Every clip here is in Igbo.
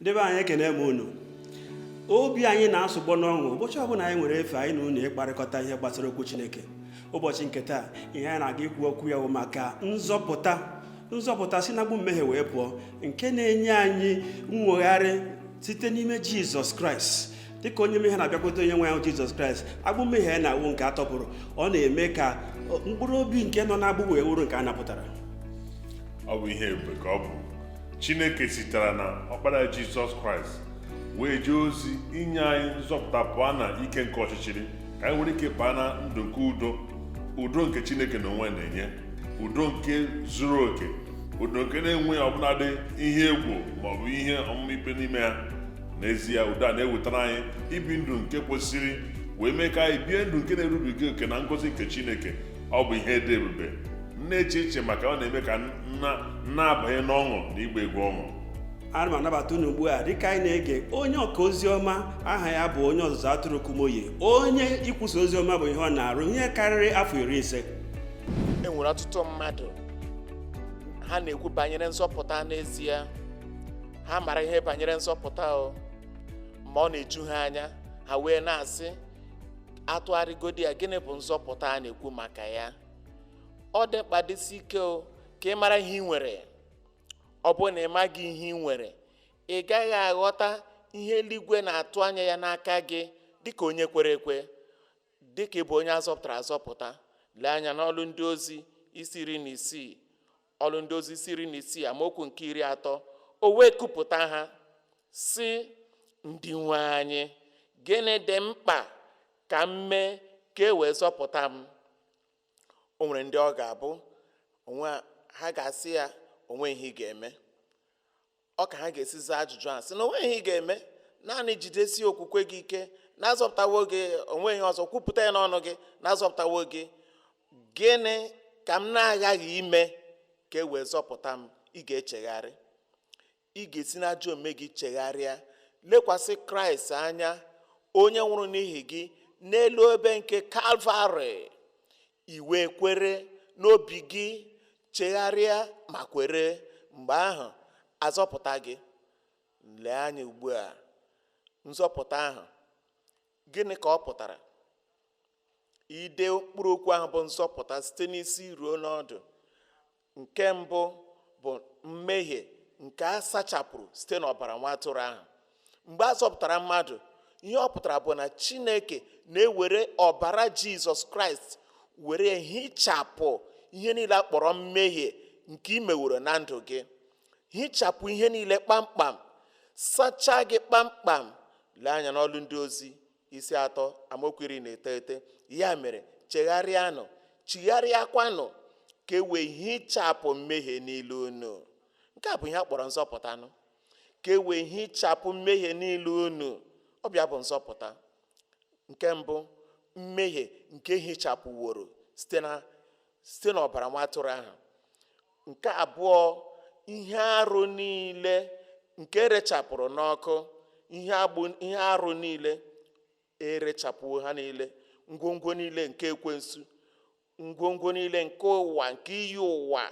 ndị be anyị ekene m unu obi anyị na-asụgbọ n'ọṅụ ụbọchị ọbụla anyị nwere efe anyị na unu ịkparịkọta ihe gbasara okwu chineke ụbọchị nke taa ihe anyị na-aga ikwu okwu ya bụ maka nzọpụta nzọpụta si n'agbụ mmehie wee pụọ nke na-enye anyị nnwogharị site n'ime jizọs kraịst dịka onye mmehie na-abịakwute onye nwe anyị jizọs kraịst agbụ mmehie ya na-awụ nke a tọpụrụ ọ na-eme ka mkpụrụ obi nke nọ n'agbụ wee wụrụ nke a napụtara ọ bụ ihe ebube ka ọ bụ chineke sitere na ọkpara ya jizọs kraịst wee jee ozi inye anyị nzọpụta pụọ na ike nke ọchịchịrị ka anyị nwere ike baa na ndụ nke udo udo nke chineke na onwe ya na-enye udo nke zuru oke udo nke na-enweghị ọbụladị ihe egwu maọbụ ihe ọmụma ikpe n'ime ya n'ezie udo a na-ewetara anyị ibi ndụ nke kwesịrị wee mee ka anyị bie ndụ nke na-erubiga oke na ngọzi nke chineke ọ bụ ihe dị ebube na-eche iche maka ọ na-eme ka m na-abanye n'ọṅụ na igba egwu ọṅụ ana m anabata unu ugbu a dịka anyị na-ege onye ọka ozi ọma aha ya bụ onye ọzụzụ atụrụ kumuyi onye ikwusa ozi ọma bụ ihe ọ na-arụ ihe karịrị afọ iri ise e nwere ọtụtụ mmadụ ha na-ekwu banyere nzọpụta n'ezie ha mara ihe banyere nzọpụta o ma ọ na-eju ha anya ha wee na-asị atụgharịgodi ya gịnị bụ nzọpụta a na-ekwu maka ya ọ dị mkpa dịsi ike o ka ị mara ihe ị nwere ọ bụrụ na ị maghị ihe ị nwere ị gaghị aghọta ihe eluigwe na-atụ anya ya n'aka gị dịka onye kwere ekwe dịka ị bụ onye a zọpụtara azọpụta lee anya n'ọlụ ndị ozi isi iri na isii Ọlụ ndị ozi isi iri na isii amaokwu nke iri atọ o wee kupụta ha sị ndị nwe anyị gịnị dị mkpa ka m mee ka e wee zọpụta m o nwere ndị ọ ga-abụ ha ga-asị ya onweghị ihe ị ga-eme ọ ka ha ga-esi zaa ajụjụ a sị na onweghị ihe ị ga-eme naanị jidesi okwukwe gị ike na a zọpụtawo gị onweghị ihe ọzọ kwupụta ya n'ọnụ gị na a zọpụtawo gị gịnị ka m na-aghaghị ime ka e wee zọpụta m ị ga-echegharị ị ga-esi n'ajọ omume gị chegharịa lekwasị kraịst anya onye nwụrụ n'ihi gị n'elu obe nke kalvarị I wee kwere n'obi gị, chegharịa ma kwere, mgbe ahụ a zọpụta gị. Lee anya ugbu a, nzọpụta ahụ, gịnị ka ọ pụtara? Ide mkpụrụ okwu ahụ bụ nzọpụta site n'isi ruo n'ọdụ nke mbụ bụ mmehie nke a sachapụrụ site n'ọbara nwa atụrụ ahụ mgbe a zọpụtara mmadụ ihe ọ pụtara bụ na chineke na-ewere ọbara jizọs kraịst were hichapụ ihe niile a kpọrọ mmehie nke ị meworo na ndụ gị hichapụ ihe niile kpamkpam sachaa gị kpamkpam lee anya n'ọlụ ndị ozi isi atọ amaokwu iri na iteghete ya mere chegharịanụ chigharịakwanụ ka e wee hichapụ mmehie niile unu nke a bụ ihe a kpọrọ nzọpụtanụ ka e wee hichapụ mmehie niile unu ọ bụ ya bụ nzọpụta nke mbụ mmehie nke e hichapụworo site na site n'ọbara nwa atụrụ ahụ nke abụọ ihe arụ niile nke e rechapụrụ n'ọkụ ihe arụ niile e rechapụwo ha niile ngwongwo niile nke ekwensu ngwongwo niile nke ụwa nke iyi ụwa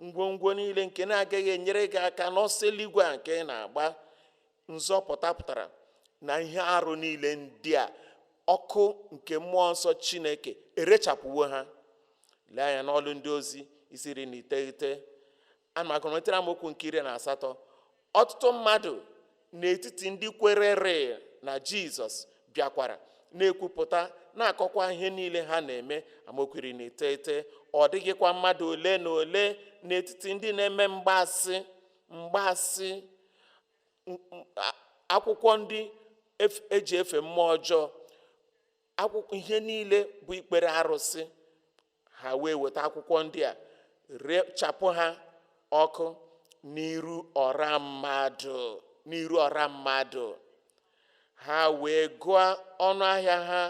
ngwongwo niile nke na-agaghị enyere gị aka n'ọsọ eluigwe a nke ị na-agba nzọpụta pụtara na ihe arụ niile ndị a ọkụ nke mmụọ nsọ chineke erechapụwo ha lee anya n'ọlụ ndị ozi isi iri na iteghete ana m agụrụmetara amaokwu nke iri na asatọ ọtụtụ mmadụ n'etiti ndị kwerere na jizọs bịakwara na-ekwupụta na-akọkwa ihe niile ha na-eme amaokwu iri na iteghete ọ dịghịkwa mmadụ ole na ole n'etiti ndị na-eme mgbaasị mgbasị akwụkwọ ndị e ji efe mmụọ ọjọọ akwụkwọ ihe niile bụ ikpere arụsị ha wee weta akwụkwọ ndị a rechapụ ha ọkụ n'iru ọra mmadụ ha wee gụọ ọnụ ahịa ha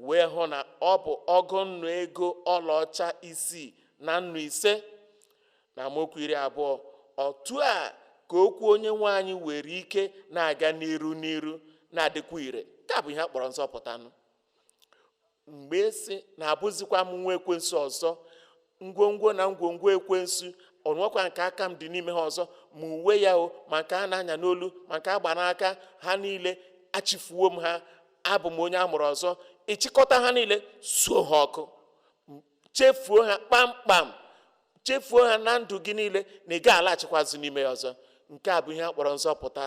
wee hụ na ọ bụ ọgụ nnu ego ọlaọcha isii na nnu ise Na amaokwu iri abụọ, otu a ka okwu onye nwe anyị were ike na-aga n'iru n'iru na-adịkwa ire. Nke a bụ ihe a kpọrọ nzọpụtanụ. Mgbe ị sị na abụzikwa m nwa ekwensu ọzọ, ngwongwo na ngwongwo ekwensu o nwekwa nke aka m dị n'ime ha ọzọ ma uwe ya o ma nke a na-anya n'olu ma nke a gba n'aka ha niile achịfuwo m ha abụ m onye a mụrụ ọzọ ị chịkọta ha niile suo ha ọkụ chefuo ha kpamkpam chefuo ha na ndụ gị niile na ị gaghị alaghachikwa azụ n'ime ya ọzọ nke a bụ ihe a kpọrọ nzọpụta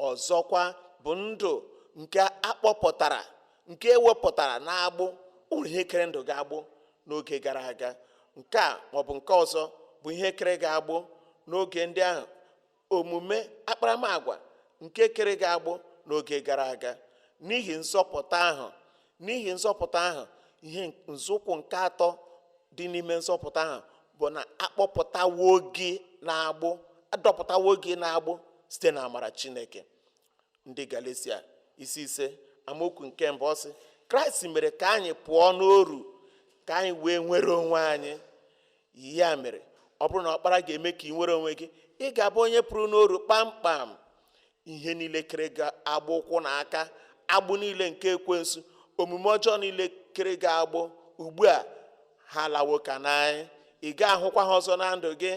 ọzọkwa bụ ndụ nke a kpọpụtara nke e wepụtara n'agbụ ụmụ ihe kere ndụ gị agbụ n'oge gara aga nke a maọbụ nke ọzọ bụ ihe kere gị agbụ n'oge ndị ahụ omume akparamagwa nke kere gị agbụ n'oge gara aga n'ihi nzọpụta ahụ n'ihi nzọpụta ahụ ihe nzọụkwụ nke atọ dị n'ime nzọpụta ahụ bụ na akpọpụtawo gị n'agbụ adọpụtawo gị n'agbụ site na amara chineke ndị galesia isi ise amaokwu nke mbụ ọ sị kraịst mere ka anyị pụọ n'oru ka anyị wee nwere onwe anyị ya mere ọ bụrụ na ọkpara ga-eme ka ị nwere onwe gị ị ga-abụ onye pụrụ n'oru kpamkpam ihe niile kere gị agbụ ụkwụ na aka agbụ niile nke ekwensu omume ọjọọ niile kere gị agbụ ugbu a ha alawo ka n'anyị ị ga-ahụkwa ha ọzọ na ndụ gị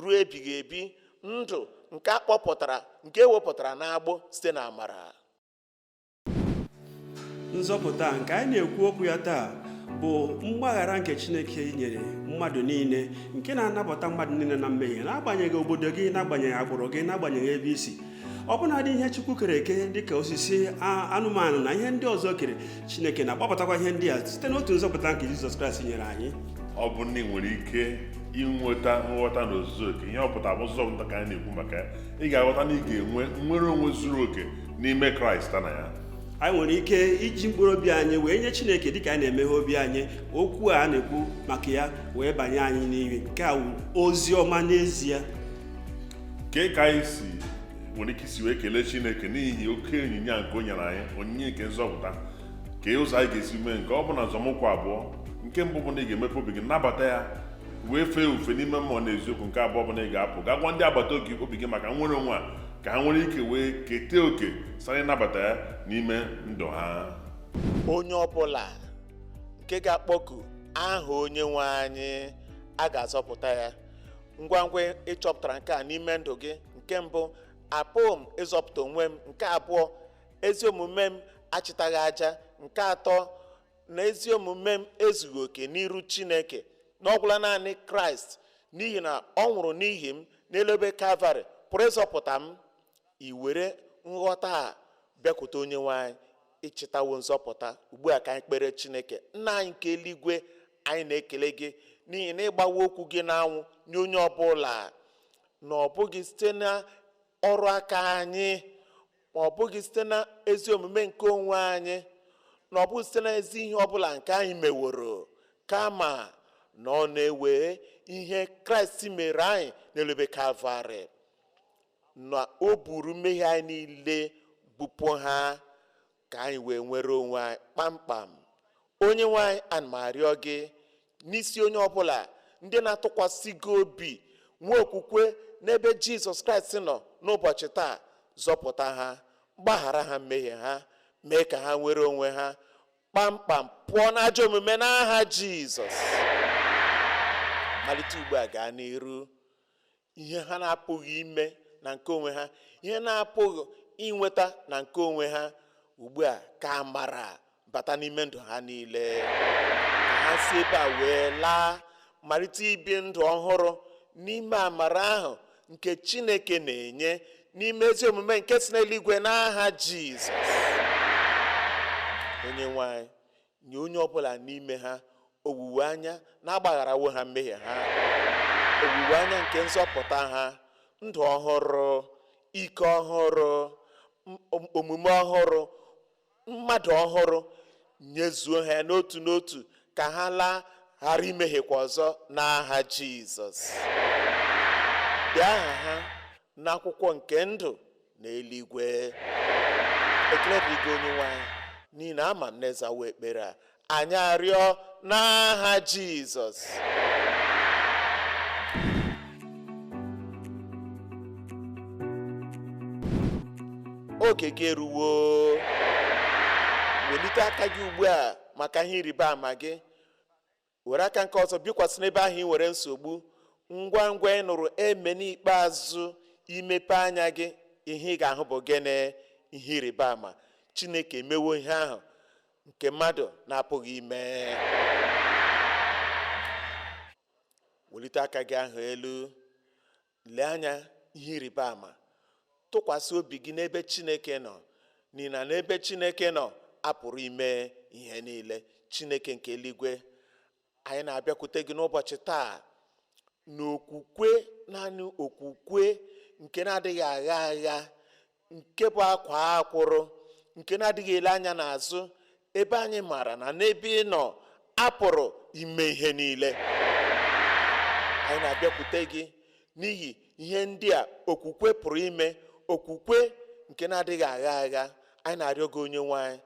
ruo ebighị ebi ndụ nke a kpọpụtara nke ewepụtara n'agbụ site na amara nzọpụta nke anyị na-ekwu okwu ya taa bụ mgbaghara nke chineke nyere mmadụ niile nke na-anapụta mmadụ niile na mmehie n'agbanyeghị obodo gị n'agbanyeghị agbụrụ gị n'agbanyeghị ebe i si ọbụnadị ihe chukwu kere eke dịka osisi anụmanụ na ihe ndị ọzọ o kere chineke na-agbapụtakwa ihe ndị a site n'otu nzọpụta nke jizọs kraịst nyere anyị ọ bụ na ị nwere ike inweta nghọta na ozuzu oke ihe ọ pụtara bụ nzọpụta ka anyị na-ekwu maka ya ị ga-aghọta na ị ga-enwe nnwere onwe zuru oke n'ime kraịst na ya anyị nwere ike iji mkpụrụ obi anyị wee nye chineke dịka anyị na-emeghe obi anyị okwu a na-ekwu maka ya wee banye anyị n'ime nke a bụ ozi ọma n'ezie kee ka anyị si nwere ike isi wee kelee chineke n'ihi oke onyinye nke o nyere anyị onyinye nke nzọpụta kee ụzọ anyị ga-esi mee nke a ọ bụ na nzọmụkwụ abụọ nke mbụ bụ na ị ga-emepe obi gị nabata ya wee fee ofufe n'ime mmụọ na eziokwu nke abụọ bụ na ị ga-apụ gaa gwa ndị agbata obi obi gị maka nnwere onwe a ka ha nwere ike wee keta oke site na ịnabata ya n'ime ndụ ha onye ọbụla nke ga-akpọku aha onye nwe anyị a ga-azọpụta ya ngwa ngwa ị chọpụtara nke a n'ime ndụ gị nke mbụ apụghị m ịzọpụta onwe m nke abụọ ezi omume m achịtaghị aja nke atọ na ezi omume m ezughị oke n'iru chineke na ọ gwụla naanị kraịst n'ihi na ọ nwụrụ n'ihi m n'elu obe kalvarị pụrụ ịzọpụta m i were nghọta a bịakwute onye nwe anyị ị chịtawo nzọpụta ugbu a ka anyị kpere chineke nna anyị nke eluigwe anyị na-ekele gị n'ihi na ị gbawo okwu gị n'anwụ nye onye ọbụla na ọ bụghị site na ọrụ aka anyị ma ọ bụghị site na ezi omume nke onwe anyị na ọ bụghị site na ezi ihe ọbụla nke anyị meworo kama na ọ na-ewe ihe kraịst mere anyị n'elu obe kalvarị na o buru mmehie anyị niile bupụ ha ka anyị wee nwere onwe anyị kpamkpam onye nwe anyị ana m arịọ gị n'isi onye ọbụla ndị na-atụkwasị gị obi nwee okwukwe n'ebe jizọs kraịst nọ n'ụbọchị taa zọpụta ha gbaghara ha mmehie ha mee ka ha nwere onwe ha kpamkpam pụọ n'ajọ omume n'aha jizọs malite ugbu a gaa n'iru ihe ha na-apụghị ime na nke onwe ha ihe na-apụghị inweta na nke onwe ha ugbu a ka amara bata n'ime ndụ ha niile ka ha si ebe a wee laa malite ibi ndụ ọhụrụ n'ime amara ahụ nke chineke na-enye n'ime ezi omume nke si n'eluigwe n'aha jizọs onye nwe anyị Nye onye ọ bụla n'ime ha owuwe anya na a gbagharawo ha mmehie ha, owuwe anya nke nzọpụta ha, ndụ ọhụrụ, ike ọhụrụ, omume ọhụrụ, mmadụ ọhụrụ, nyezuo ha n'otu n'otu ka ha laa ghara imehiekwa ọzọ n'aha Jizọs. Dee aha ha n'akwụkwọ nke ndụ n'eluigwe ekele dịrị gị onye nwe anyị n'ihi na ama m na ị zawo ekpere a anyị arịọ n'aha jizọs oge gị eruwo welite aka gị ugbu a maka ihe ịrịba ama gị were aka nke ọzọ bikwasị n'ebe ahụ i nwere nsogbu ngwa ngwa ị nụrụ amen ikpeazụ i mepee anya gị ihe ị ga-ahụ bụ gịnị ihe ịrịba ama chineke emewo ihe ahụ nke mmadụ na-apụghị ime welite aka gị ahụ elu Lee anya ihe ịrịba ama. Tụkwasị obi gị n'ebe Chineke nọ, n'ihi na n'ebe Chineke nọ, a pụrụ ime ihe niile. Chineke nke eluigwe, anyị na-abịakwute gị n'ụbọchị taa n'okwukwe, naanị okwukwe nke na-adịghị agha agha, nke bụ akwaa akwụrụ nke na-adịghị ele anya n'azụ ebe anyị maara na n'ebe ị nọ apụrụ ime ihe niile anyị na-abịakwute gị n'ihi ihe ndị a okwukwe pụrụ ime okwukwe nke na-adịghị agha agha anyị na-arịọ gị onye nwe anyị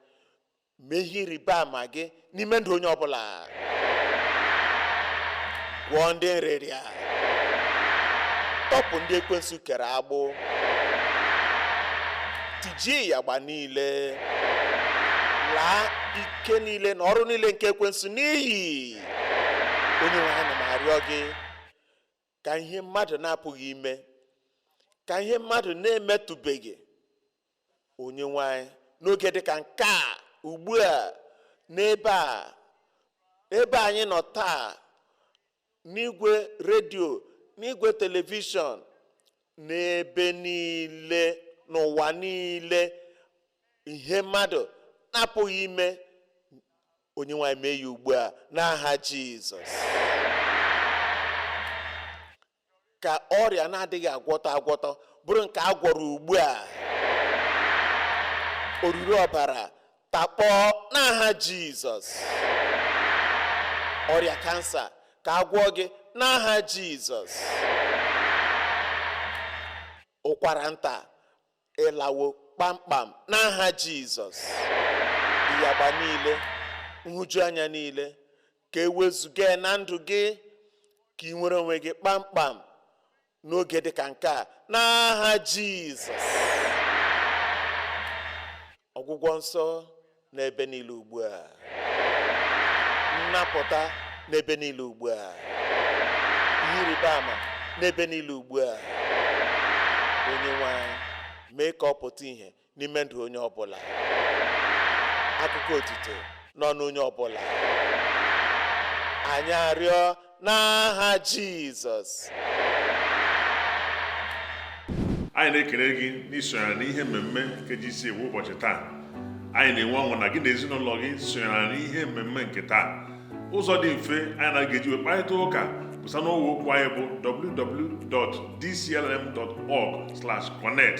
mee ihe ịrịba ama gị n'ime ndụ onye ọbụla gwọọ ndị nrịrịa tọpụ ndị ekwensu kere agbụ tijie ịyagba niile laa ike niile na ọrụ niile nke ekwensu n'iyi onye nwe anyị ana m arịọ gị ka ihe mmadụ na-apụghị ime ka ihe mmadụ na-emetụbeghị Onyenwe anyị n'oge dị ka nke a ugbu a n'ebe a ebe anyị nọ taa n'igwe redio n'igwe telivishọn n'ebe niile n'ụwa niile ihe mmadụ na-apụghị ime Onyenwe anyị mee ya ugbu a n'aha Jizọs. Ka ọrịa na-adịghị agwọtọ agwọtọ bụrụ nke a gwọrọ ugbu a. Oruru ọbara takpọọ n'aha Jizọs. Ọrịa kansa ka a gwọọ gị n'aha Jizọs. Ụkwara nta ị lawo kpamkpam n'aha Jizọs ịyagba niile nhụjuanya niile ka e wezuga na ndụ gị ka ị nwere onwe gị kpamkpam n'oge dị ka nke a n'aha Jizọs ọgwụgwọ nsọ n'ebe niile ugbu a nnapụta n'ebe niile ugbu a ihe ịrịba ama n'ebe niile ugbu a Onyenwe anyị mee ka ọ pụta ihe n'ime ndụ onye ọbụla akụkọ otito n'ọnụ onye ọbụla anyị arịọ n'aha Jizọs anyị na-ekele gị n'isonyere n'ihe mmemme nke GCK ụbọchị taa anyị na-enwe ọṅụ na gị na ezinụlọ gị sonyere n'ihe mmemme nke taa ụzọ dị mfe anyị na gị ga-eji wee kparịta ụka bụ site n'ọwa okwu anyị bụ www.dclm.org/connect